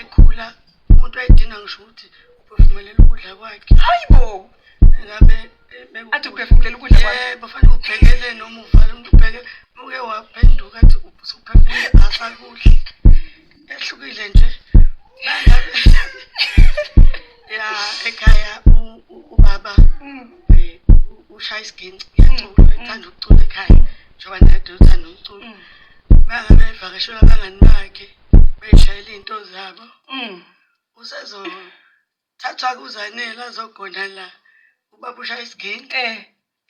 ekhula umuntu wayedinga ngisho ukuthi uphefumulela ukudla kwakhe hayi bo ngabe athi uphefumulela ukudla kwakhe yebo fanele ubhekele noma uvale umuntu ubheke uke waphenduka athi usuphefumule asakudla ehlukile nje nangabe ya ekhaya ubaba mm. eh, ushaya isiginci uyacula mm. ethanda ukucula ekhaya njengoba naye uthanda umculo mm. bangabevakashela abangani bakhe beshayela iy'nto zabo mm. usezothathwa kuzanele azogona la ubaba ushaya isigini eh.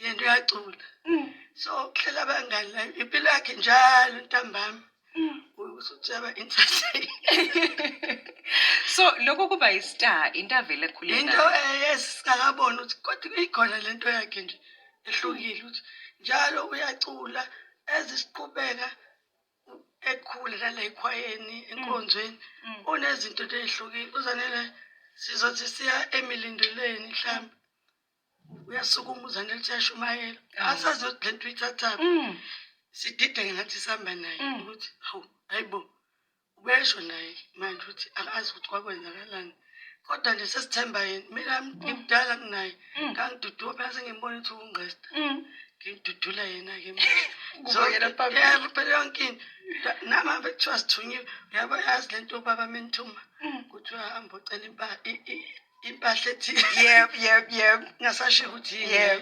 yento uyacula mm. so kuhlela abangani la impilo yakhe njalo ntambama mm. usuthaba entertain so lokho kuba yi-star into avele ekhule into esingakaboni ukuthi kodwa ikhona le nto yakhe nje ehlukile ukuthi njalo uyacula ezisiqhubeka ekhule lana ekhwayeni enkonzweni mm. mm. unezinto into ezihlukile uzanele sizothi siya emilindelweni mhlawumbe uyasukuma uzanele siyashumayela mm. asazi ukuthi le nto uyithathaphi sidideke ngathi sihamba naye ukuthi hawu hayi bo ubesho naye manje ukuthi akazi ukuthi kwakwenzakalani kodwa nje sesithemba yena mina mm. ngimdala kunaye mm. ngangidudula phela sengimbona ukuthi ungqesta mm. ngimdudula yena-ke yebo phela yonke into nami ave kuthiwa sithunyiwe uyabo yazi le nto ubaba menithuma kuthiwa hambe ocela impahla ethile yeb yeb yeb ngasasho ukuthi yeb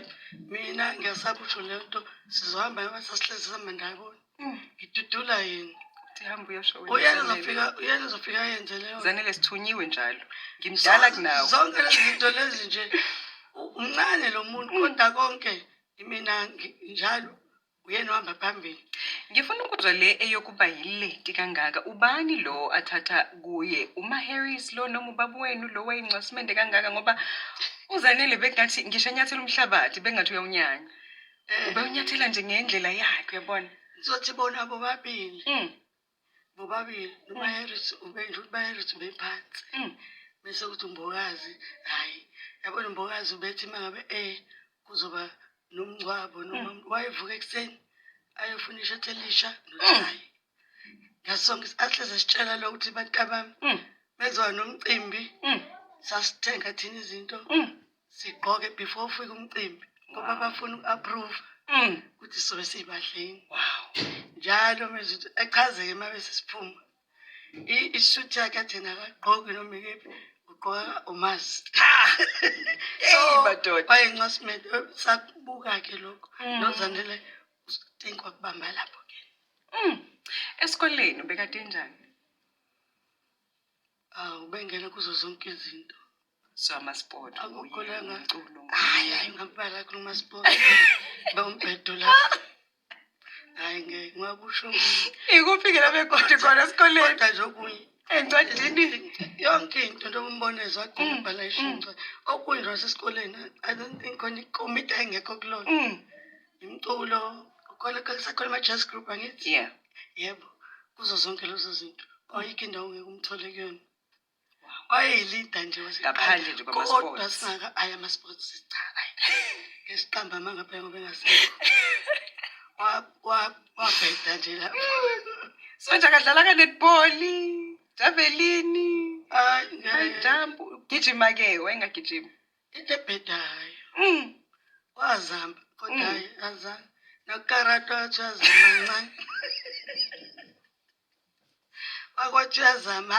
mina ngiyasabutsho le nto sizohamba yoba sasihlezi sihamba ndayibona Mm, ngidudula yini Hamba uyosho wena. uyena Zanele. zofika uyena zofika yenze leyo Zanele sithunyiwe njalo. Ngimdala Zonke- kunawe. zonke lezi zinto lezi nje u- umncane lo muntu kodwa konke imina ngi- njalo uyena ohamba phambili Ngifuna ukuzwa le eyokuba yileti kangaka. Ubani lo athatha kuye? Uma Harris lo noma ubaba wenu lo wayincwasimende kangaka ngoba uZanele bekungathi ngisho enyathela umhlabathi bekungathi uyawunyanya. Eh. Ubewunyathela nje ngendlela yakhe uyabona. Ngizothi bona bobabili. Mm. Bobabili uMaheris ubenje ukuthi Maheris bephansi. Mm. Bese kuthi umbokazi hayi yabona umbokazi ubethi mangabe eh kuzoba nomngcwabo noma mm. wayevuka ekuseni ayofuna ishathi elisha nochayi. Mm. ngasonke ahleze sitshela lo ukuthi bantabami mm. benziwa nomcimbi mm. sasithenga thina izinto mm. sigqoke before ufike umcimbi ngoba bafuna uku-approve ukuthi sobe siyibadleni njalo mezi ukuthi echazeke uma besesiphuma isuthi yakhe athena akagqoki noma ikephi ugqoka umazi so wayencwasimede sakubuka-ke lokho nozanele Thank wakubamba lapho ke. Mm. Esikoleni bekade njani? Awu bengena kuzo zonke izinto. So amasport Akukho la nga- umculo. Hayi hayi ngakubala kulo masport. Ba umbhedo la. Hayi ngeke ngakusho ngi- Ikuphi ke la bekoti khona esikoleni? kodwa nje okunye Encwadini. yonke into njengoba umbona ezagcina Mm, ubhala ishintsha okunje wasesikoleni i don't think khona ikomiti ayingekho kulona Mm. Imculo, ukhona kusakhona ama-jazz group angithi? Yeah. Yebo, kuzo zonke lezo zinto. Ayikho indawo ngeke umthole kuyona. Wayeyilida nje Ngaphandle nje kwama-sports. kodwa singaka ayi ama-sports cha ayi. Ngesiqamba amanga phela ngoba engasekho. Wa- wa- Wabheda nje la. Sonja kadlala ka-netball, javelini, Hayi, high ngeke. jump. Ugijima-ke, wayengagijimi. Into ebhedayo. Mm. Wazama kodwa Mm. hayi azange. Nokarata wathi uyazama ncane. Wakwathi uyazama.